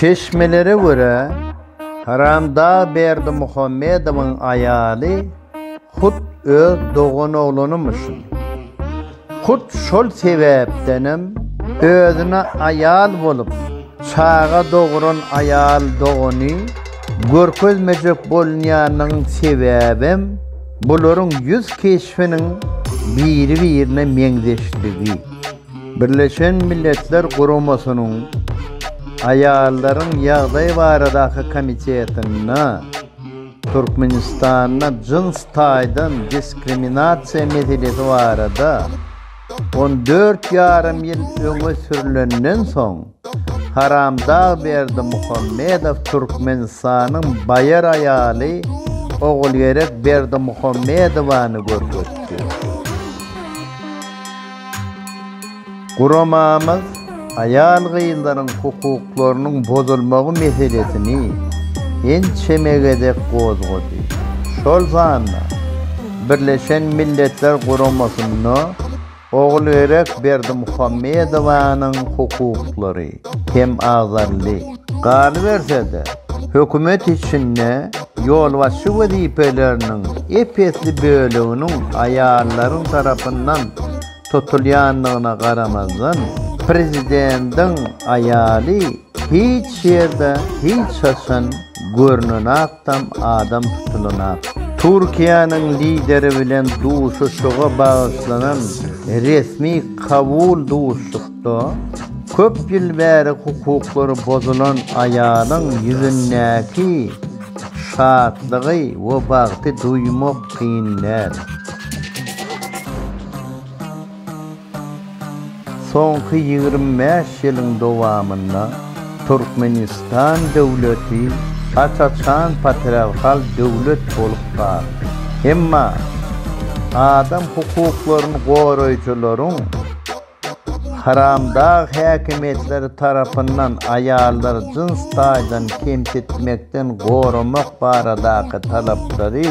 Çeşmelere görä, Haramdag Berdimuhamedowyň aýaly hut öz doganoglany-myşyn. Hut şol sebäpdenem özüne aýal bolup, çaga dogran aýal dogany görkezmejek bolunýanynyň sebäbem bularyň ýüz keşbiniň biri-birine meňzeşligi. Birleşen Milletler Guramasynyň Aýallaryň ýagdaýy baradaky komitetinde Türkmenistanda jyns taýdan diskriminasiýa meselesi barada on dört ýarym ýyl öňe sürlenden soň, Haramdag Berdi Muhammedow Türkmenistanyň baýar aýaly Ogulgerek Berdimuhammedowany görkezdi. Guramamyz aýal-gyzlaryň hukuklarynyň bozulmagy meselesini ençeme gezek gozgady. Şol sanda Birleşen Milletler Guramasynda Ogulöýrek Berdimuhamedowanyň hukuklary hem agzaldy. Galyberse-de, hökümet içinde ýolbaşçy wezipeleriniň ep-esli böleginiň aýallaryň tarapyndan tutulýandygyna garamazdan, prezidentiň aýaly Hiç ýerde hiç haçan görnenakdam adam tutulanok. Türkiýäniň Lideri bilen duşuşyga bagyşlanan resmi kabul duşuşykda köp ýyl bäri hukuklary bozulan aýalyň ýüzündäki şatlygy we bagty duýmak kyn däl. Soňky ýigrimi bäş ýylyň dowamynda Türkmenistan döwleti aç-açan patriarhal döwlet bolup galdy. Emma adam hukuklaryny goraýjylaryň haramdag häkimiýetleri tarapyndan aýallary jyns taýdan kemsitmekden goramak baradaky talaplary,